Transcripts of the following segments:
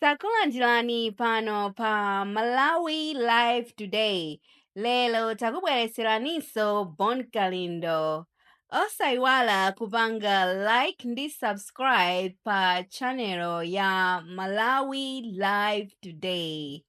takulandirani pano pa malawi live today lero takubweretseraninso bon kalindo osayiwala kupanga like ndi subscribe pa channel ya malawi live today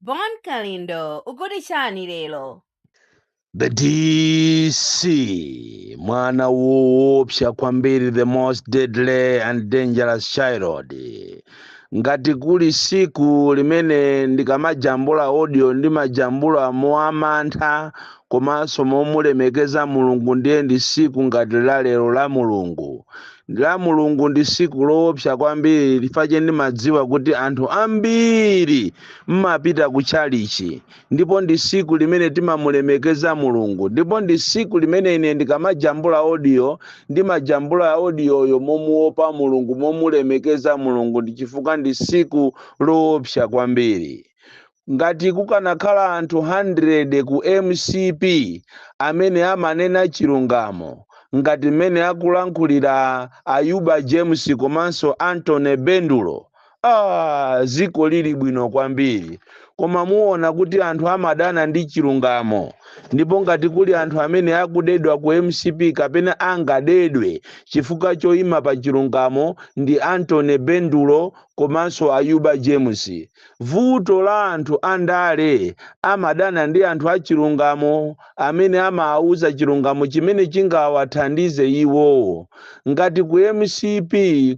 bon kalindo ukuti chani lero the dc mwana woopsa kwambiri the most deadly and dangerous child ngati kuli siku limene ndikamajambula audio ndimajambula moamantha komanso momulemekeza mulungu ndiye ndi siku ngati la lero la mulungu la mulungu ndi siku loopsa kwambiri chifukwa ndimadziwa kuti anthu ambiri mmapita ku chalichi ndipo ndi siku limene timamulemekeza mulungu ndipo ndi siku limene ine ndikamajambula audio ndimajambula audioyo momuopa mulungu momulemekeza mulungu ndi chifukwa ndi siku loopsa kwambiri ngati kukanakhala anthu 100 ku mcp amene amanena chilungamo ngati mmene akulankhulira ayuba james komanso anthony bendulo dziko lili bwino kwambiri koma muona kuti anthu amadana ndi chilungamo ndipo ngati kuli anthu amene akudedwa ku mcp kapena angadedwe chifukwa choima pa chilungamo ndi anthony bendulo komanso ayuba james vuto la anthu andale amadana ndi anthu achilungamo amene amaauza chilungamo chimene chingawathandize iwo. Ngati ku mcp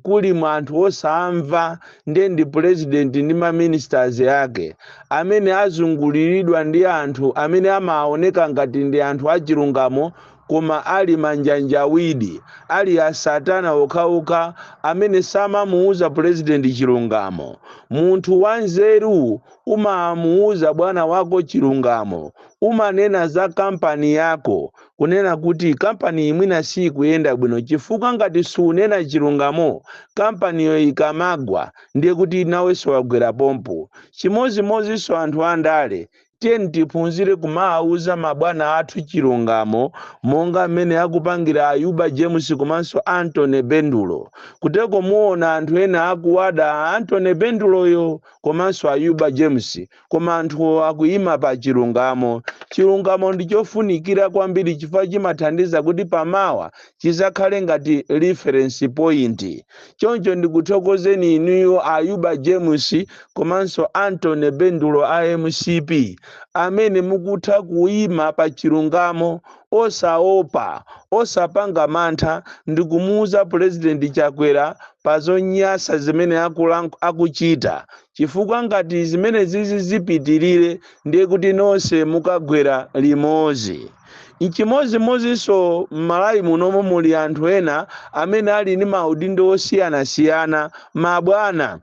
kuli anthu osamva nde ndi president ndi ma ministers ake amene azunguliridwa ndi anthu amene amaaoneka ngati ndi anthu achilungamo koma ali manjanjawidi, ali asatana okhaokha amene samamuuza president chilungamo. Munthu wanzeru umamuuza bwana wako chilungamo, umanena za kampani yako kunena kuti kampaniyi mwina siikuyenda bwino chifukwa ngati suunena chilungamo kampaniyo ikamagwa ndiye kuti nawenso wagwera pompo. Chimodzimodzinso anthu andale, tiyeni tiphunzire kumawauza mabwana athu chilungamo monga mmene akupangira Ayuba James komanso Anthony Bendulo. Kuteko muona anthu ena akuwada Anthony Benduloyo. komanso ayuba james koma anthu akuyima pa chilungamo chilungamo ndi chofunikira kwambiri chifukwa chimathandiza kuti pamawa chizakhale ngati reference point choncho ndikuthokozeni inuyo ayuba james komanso anthony bendulo a mcp amene mukutha kuyima pa chilungamo osaopa, osapanga mantha ndikumuuza Pulezidenti Chakwera pa zonyasa zimene akuchita chifukwa ngati zimenezizi zipitilire ndiye kuti nonse mukagwera limodzi. Nchimodzimodzinso m'Malawi munomo muli anthu ena amene ali ndi maudindo osiyanasiyana, mabwana.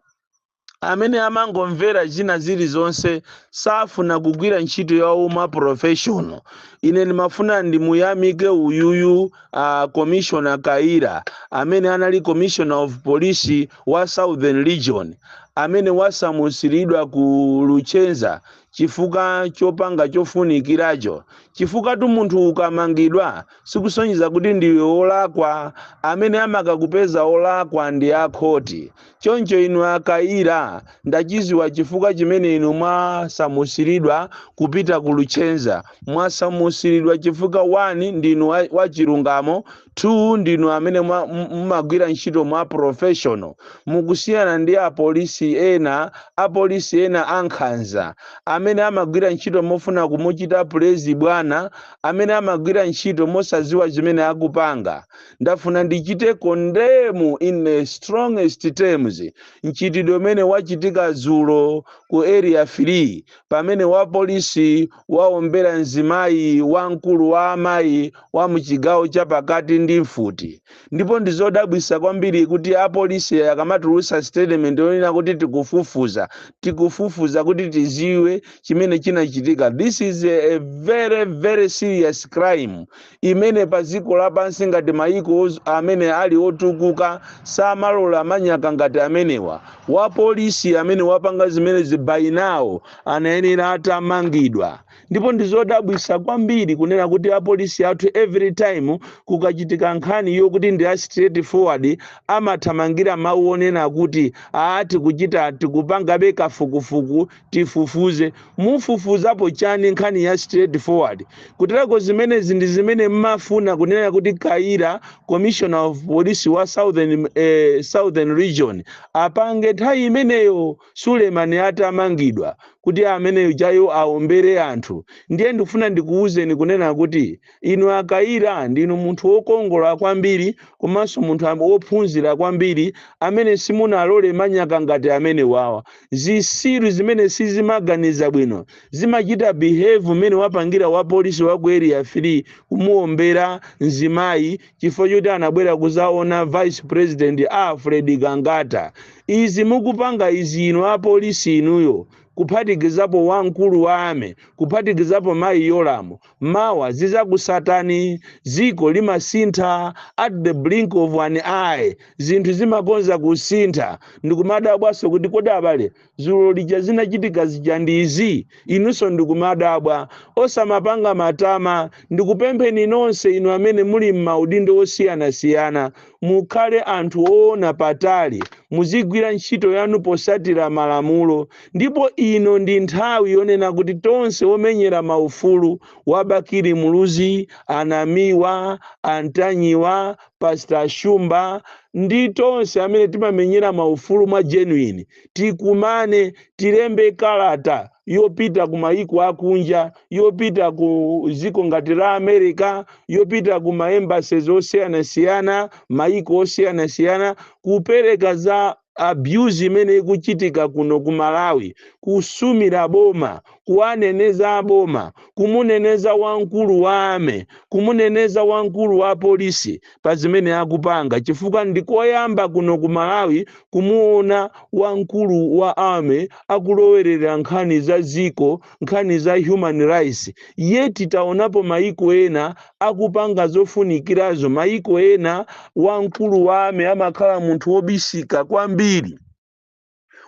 amene amangomvera zina zilizonse safuna kugwira ntchito ya u ma professional ine ndimafuna ndimuyamike uyuyu uh, commissioner kayira amene anali commissioner of police wa southern region amene wasamusiridwa ku luchenza chifukwa chopanga chofunikiracho chifukwatu munthu ukamangidwa sikusonyeza kuti ndiwe olakwa amene amakakupeza olakwa ndi akhoti Choncho inu a Kayira, ndachiziwa chifukwa chimene inu mwasamusilidwa kupita ku Luchenza. Mwasamusilidwa chifukwa 1 ndinu wa, wa chilungamo, 2 ndinu amene mwa, mumagwira ntchito mwa professional. Mukusiyana ndi a polisi ena, a polisi ena ankhanza, amene amagwira ntchito mofuna kumuchita please bwana, amene amagwira ntchito mosaziwa zimene akupanga. ndafuna ndichite condemn in the strongest terms mchitidwe umene wachitika dzulo ku area 3 pamene wapolisi waombera mzimayi wamkulu wa amayi wa muchigawo chapakati ndi mfuti ndipo ndizodabwisa kwambiri kuti apolisi akamatulusa statement yonena kuti tikufufuza tikufufuza kuti tiziwe chimene chinachitika this is a, a very very serious crime imene pa dziko lapansi ngati mayiko oz- amene ali otukuka samalola manyaka ngati amenewa wapolisi amene wapanga zimenezi by now anayenera atamangidwa ndipo ndizodabwisa kwambiri kunena kuti apolisi athu every time kukachitika nkhani yokuti ndi a straight forward amathamangira mawu onena kuti aa tikuchita tikupangabe kafukufuku tifufuze. Mufufuzapo chani nkhani ya straight forward kuterako zimenezi ndi zimene mmafuna kunena kuti kayira commissioner of police wa southern, eh, southern region apange nthawi imeneyo suleman atamangidwa kuti ameneyo chayo aombere anthu ndiye ndikufuna ndikuwuzeni kunena kuti Inu a Kayira ndinu munthu wokongola kwambiri komanso munthu a wophunzira kwambiri amene simunalole manyaka ngati amenewawa. Zisiru zimene sizimaganiza bwino zimachita behave mmene wapangira wa polisi wa ku area 3 kumuombera mzimayi chifukwa choti anabwera kuzaona vice president Alfred Gangata. Izi mukupanga izi inu a polisi inuyo kuphatikizapo wamkulu wa army kuphatikizapo mayi Yolamu mawa zizakusatani ziko limasintha at the blink of an eye zinthu zimakonza kusintha ndikumadabwanso kuti kodi abale zulo lija zinachitika zija ndi izi inunso ndikumadabwa osamapanga matama ndikupempheni nonse inu amene muli m'maudindo osiyanasiyana Mukhale anthu oona patali, muzigwira ntchito yanu posatira malamulo ndipo ino ndi nthawi yonena kuti tonse omenyera ma ufulu a Bakili Muluzi, a Namiwa, a Ntanyiwa, Pastor Shumba ndi tonse amene timamenyera ma ufulu mwa genuine tikumane, tilembe kalata. yopita ku mayiko akunja yopita ku ziko ngati la america yopita ku maembassies osiyanasiyana mayiko osiyanasiyana kupereka za abuse imene ikuchitika kuno ku malawi kusumira boma kuwaneneza boma kumuneneza wamkulu wa army kumuneneza wamkulu wa polisi pa zimene akupanga chifukwa ndi koyamba kuno ku Malawi kumuona wamkulu wa army akulowerera nkhani za ziko, nkhani za human rights. Yet taonapo mayiko ena akupanga zofunikirazo. Mayiko ena wamkulu wa army amakhala munthu wobisika kwambiri.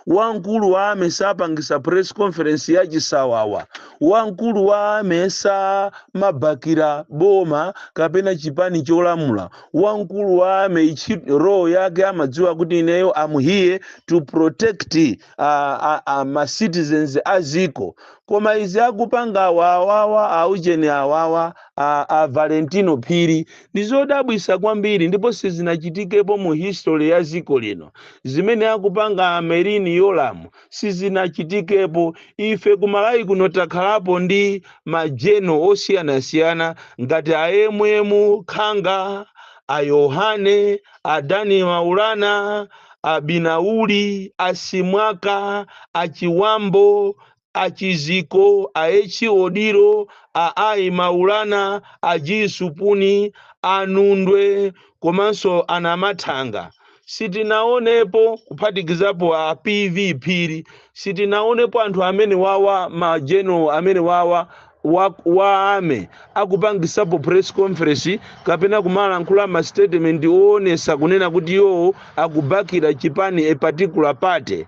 wamkulu wa army sapangisa press conference ya chisawawa wamkulu wa army samabakira boma kapena chipani cholamula wamkulu wa army ichi role yake amadziwa kuti ineyo I'm here to protect uh, uh, uh, ma citizens a ziko koma izi akupanga awawawa aujeni awawa a, a valentino phiri Ndi zodabwisa kwambiri ndipo sizinachitikepo mu history ya ziko lino. Zimene akupanga a Merlin Yolamu sizinachitikepo. Ife ku Malawi kuno takhalapo ndi ma general osiyanasiyana ngati a MM Khanga, a Yohane, a D N Maulana, a Binauli, a Simwaka, a Chiwambo, a Chiziko, a H Odilo, a I Maulana, a G Supuni, a Nundwe komanso a Namathanga. Sitinaonepo kuphatikizapo a PV Phiri. Sitinaonepo anthu amenewawa ma general amenewawa wa, wa army akupangisapo press conference kapena kumalankhula ma statement oonesa kunena kuti iwowo akubakira chipani a particular party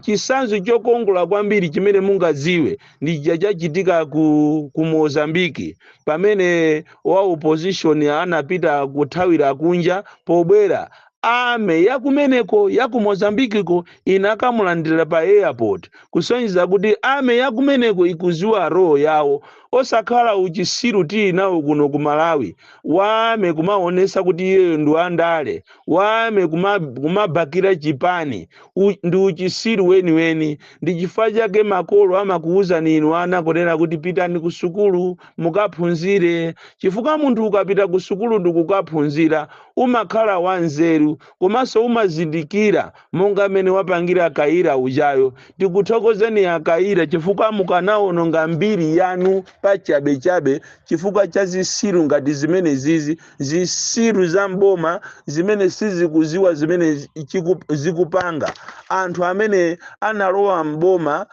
chisanzo chokongola kwambiri chimene mungadziwe ndi chija chachitika ku, ku mozambiki pamene wa opposition anapita kuthawira kunja pobwera Army ya kumeneko ya ku Mozambique ko inakamulandira pa airport kusonyeza kuti army ya kumeneko ikuziwa role yawo osakhala uchisiru tili nawo kuno ku Malawi wa army kumaonesa kuti iyeyo ndi wandale wa army kuma, kumabakira chipani U, ndi uchisiru weniweni ndi chifukwa chake makolo amakuwuzani inu ana kunena kuti pitani ku sukulu mukaphunzire chifukwa munthu ukapita ku sukulu ndi kukaphunzira Umakhala wanzeru komanso umazindikira monga mmene wapangira Kayira ujayo. Tikuthokozeni a Kayira chifukwa mukanawononga mbiri yanu pachabechabe chifukwa cha zisiru ngati zimenezizi. Zisiru za m'boma zimene sizikuziwa zimene chikup zikupanga. Anthu amene analowa m'boma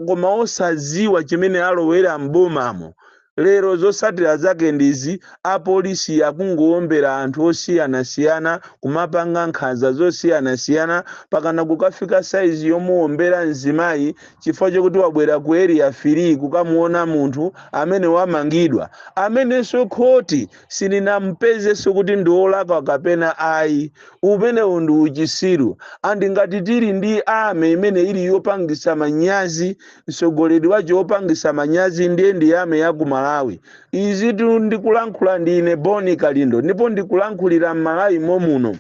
koma osadziwa chimene alowera m'bomamo. Lero zotsatira zake ndizi, apolisi akungowombera anthu osiyanasiyana, kumapanga nkhanza zosiyanasiyana, mpakana kukafika size yomuwombera mzimayi chifukwa chokuti wabwera ku Area three kukamuwona munthu amene wamangidwa, amenenso khoti silinampezenso kuti ndi olakwa kapena ayi umenewu ndi uchisiru andi ngati tili ndi army imene ili yopangisa manyazi mtsogoleri wake wopangisa manyazi ndiye ndi army ya ku malawi izitu ndikulankhula ndi ine bon kalindo ndipo ndikulankhulira m'malawi momuno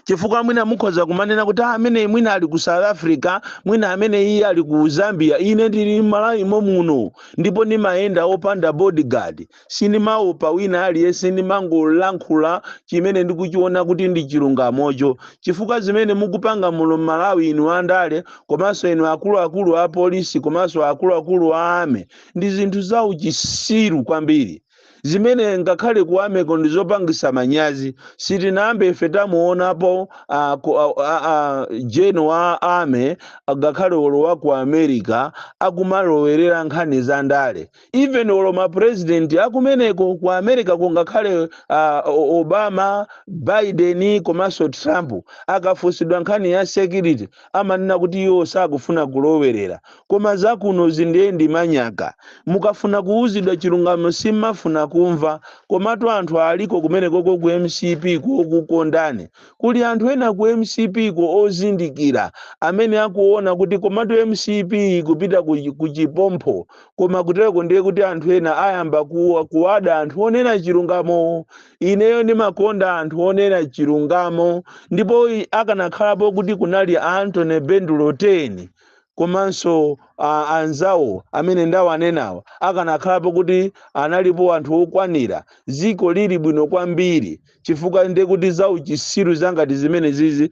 chifukwa mwina mukhoza kumanena kuti "Ah, ameneyi mwina ali ku south africa mwina ameneyi ali ku zambia ine ndili m'malawi momuno ndipo ndimayenda opanda bodyguard sindimaopa wina aliyense ndimangolankhula chimene ndikuchiona kuti ndi chilungamocho chifukwa zimene mukupanga muno m'malawi inu andale komanso inu akuluakulu a polisi komanso akuluakulu a army ndi zinthu za uchisiru kwambiri zimene ngakhale ku army ko ndi zopangisa manyazi sitinayambe ife tamuonapo a, ku- a, a, a, general wa army ngakhale olo wa ku america akumalowerera nkhani za ndale even olo mapurezidenti akumeneko ku america ko ngakhale a, O- obama biden komanso trump akafunsidwa nkhani ya security amanena kuti iwo sakufuna kulowerera. Koma za kunozi ndiye ndi manyaka. Mukafuna kuuzidwa chilungamo simmafuna kumva. Komatu anthu aliko kumenekoko ku mcp ko okukondani. Kuli anthu ena ku mcp ko ozindikira amene akuona kuti komatu mcp ikupita ku ku chipompho. Koma kuteroko ndiye kuti anthu ena ayamba ku kuwada anthu onena chilungamo wo. ineyo ndimakonda anthu onena chilungamo ndipo i- akanakhalapo kuti kunali a antony bendulo 10 komanso a- anzawo amene ndawanenawa akanakhalapo kuti analipo anthu okwanira ziko lili bwino kwambiri chifukwa ndekuti zauchisiru zangati zimene zizi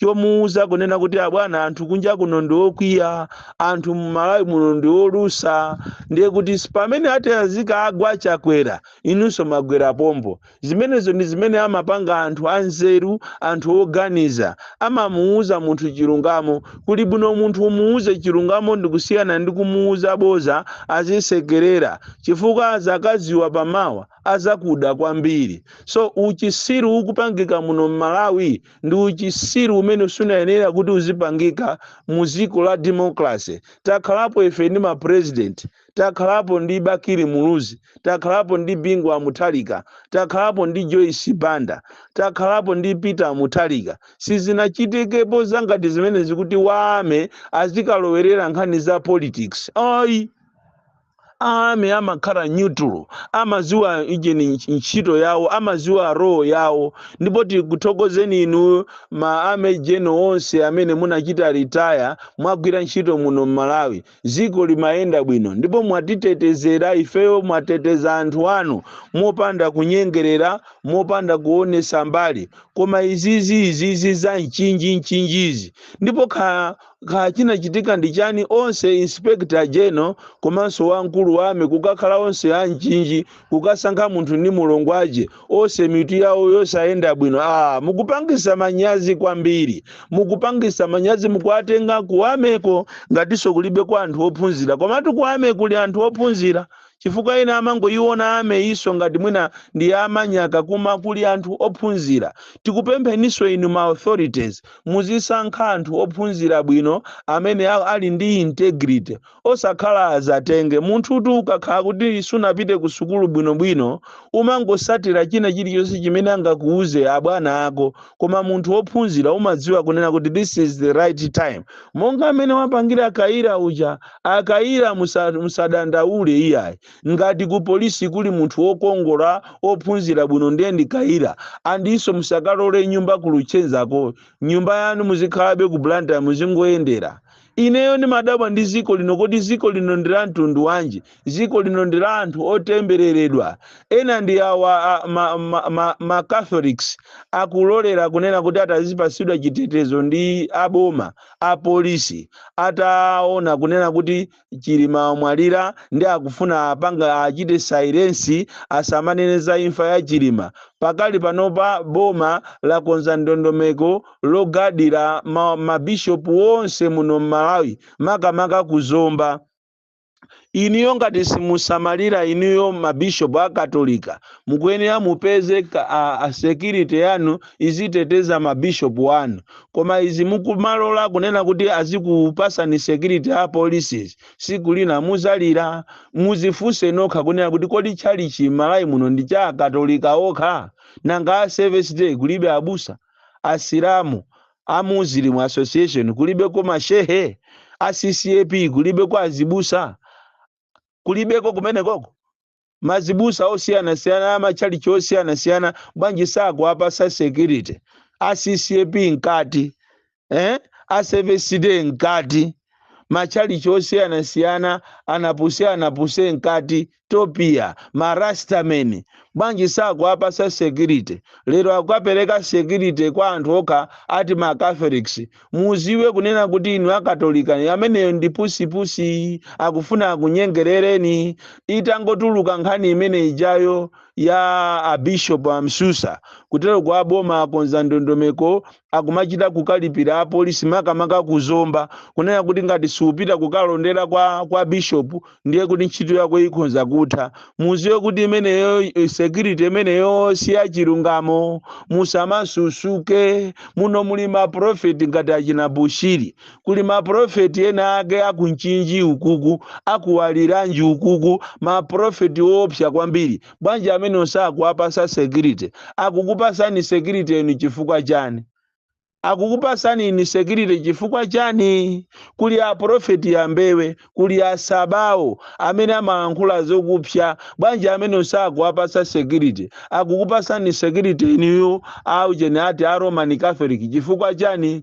chomuuza kunena kuti abwana anthu kunja kuno ndi okwiya anthu mmalawi muno ndi olusa ndiye kuti pamene atazika agwa Chakwera inunso magwera pompo zimenezo ndi zimene amapanga anthu anzeru anthu oganiza amamuuza munthu chilungamo kuli bwino munthu umuuze chilungamo ndi kusiyana ndi kumuuza boza azisekerera chifukwa azakaziwa pamawa azakuda kwambiri so uchisiru ukupangika muno mmalawi ndi uchisiru umene sunayenera kuti uzipangika mu dziko la democracy takhalapo ife ndi ma president takhalapo ndi bakili muluzi takhalapo ndi bingu wa muthalika takhalapo ndi joyce banda takhalapo ndi peter muthalika sizinachitekepo zangati zimene zikuti wa army azikalowerera nkhani za politics ayi army amakhala neutral amaziwa ijeni ntchito yawo amaziwa role yawo ndipo tikuthokozeni inu ma army general onse amene munachita retire mwagwira ntchito muno mmalawi ziko limayenda bwino ndipo mwatitetezera ifeyo mwateteza anthu anu mopanda kunyengerera mopanda kuonesa mbali koma izizi izizi za mchinji mchinjizi ndipo kha kaya chinachitika ndi chani onse inspector general komanso wamkulu wa army kukakhala onse amchinji kukasankha munthu ndi mulongo wake onse mitu yawo yosayenda bwino ah mukupangisa manyazi kwambiri mukupangisa manyazi mukuwatenga ku army ko ngatinso kulibe kwa anthu ophunzira komatu ku army kuli anthu ophunzira chifukwa ena amangoyiona army so ngati mwina ndi yamanyaka koma kuli anthu ophunzira tikupempheniso inu ma authorities muzisankha anthu ophunzira bwino amene a- ali ndi integrity osakhala azatenge munthutu ukakhala kuti sunapite ku sukulu bwinobwino umangosatira china chilichonse chimene angakuuze abwana ako koma munthu wophunzira umadziwa kunena kuti this is the right time monga amene wapangira kayira uja A Kayira musa, musadandaule iyayi. Ngati ku police kuli munthu wokongola ophunzira bwino ndiye ndi Kayira. And inso musakalole nyumba ku Luchenza-ko. Nyumba yanu muzikhalabe ku Blantyre muzingoyendera. Ineyo ndimadabwa ndi ziko lino kodi ziko lino ndi la mtundu wanji? Ziko lino ndi la anthu otembereredwa. Ena ndi awa a, ma, ma, ma, ma Catholics akulolera kunena kuti ati azipatsidwa chitetezo ndi a boma. apolisi ataona kunena kuti chilima wamwalira nde akufuna apange achite silence asamanene za imfa ya chilima pakali panopa boma lakonza ndondomeko logadira ma, mabishopu onse muno mmalawi makamaka ku zomba iniyo ngati simusamalira iniyo mabishopu a katolika mukuyenera mupeze ka- a- a security yanu iziteteza mabishopu anu koma izi mukumalola kunena kuti azikupasani security a policies siku lina muzalira muzifunse nokha kunena kuti kodi tchalichi malayi muno ndi cha akatolika okha nanga a service day kulibe abusa asilamu a muslim association kulibeko ma shehe a ccap kulibeko azibusa kulibeko kumenekoko mazibusa osiyanasiyana a matchalichi osiyanasiyana bwanji sakuwapasa security a ccap mkati eh? a seventh day mkati matchalichi osiyanasiyana anapuse anapuse mkati topia marastameni bwanji sakuwapasa security lero akapereka security kwa anthu okha ati ma catholics muziwe kunena kuti inu akatolika ameneyo ndi pusipusi akufuna akunyengerereni itangotuluka nkhani imene ijayo ya abishop amsusa kutero kwa boma akonza ndondomeko akumachita kukalipira apolisi makamaka ku zomba kunena kuti ngati siupita kukalondera kwa, kwa bishop ndiye kuti ntchito yako ikhonza kutha muziwe kuti imeneyo eh, security imeneyo si ya chilungamo musamasusuke muno muli maprofeti ngati achina bushiri kuli maprofeti ena ake akumchinji ukuku akuwaliranji ukuku maprofeti woopsa kwambiri bwanji amenewo sakuwapasa security akukupasani security inu chifukwa chani akukupasani inu security chifukwa chani kuli aprofeti ambewe kuli asabawo amene amalankhula zokupsa bwanji amenewo sakuwapasa security akukupasani security inuyo aujeni ati a roman catholic chifukwa chani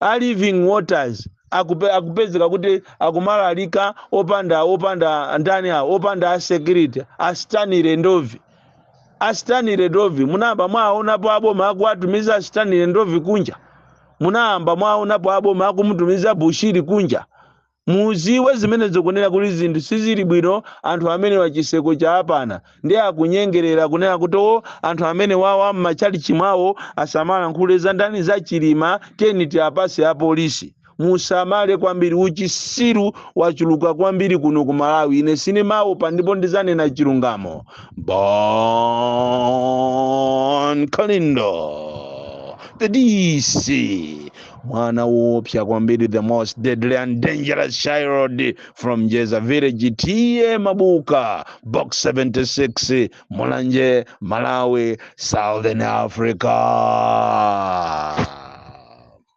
a living waters akupe, akupezeka kuti akumalalika opanda opanda ndani awo opanda a security a stanley ndovi a stanley ndovi munayamba mwaonapo aboma akuwatumiza a stanley ndovi kunja munayamba mwaonapo aboma akumutumiza bushiri kunja Muziwe zimenezo kunena kuti zinthu sizili bwino anthu amenewa chiseko chaapana nde akunyengerela kunena kuti o anthu amenewawa mmachalichi mwawo asamalankhule za ndani za chilima tiyeni tiapase apolisi musamale kwambiri uchisiru wachuluka kwambiri kuno ku malawi ine sinimaopa ndipo ndizanena chilungamo bon kalindo the dc mwana woopsa kwambiri the most deadly and dangerous child from jeza village tiye mabuka box 76 mulanje malawi southern africa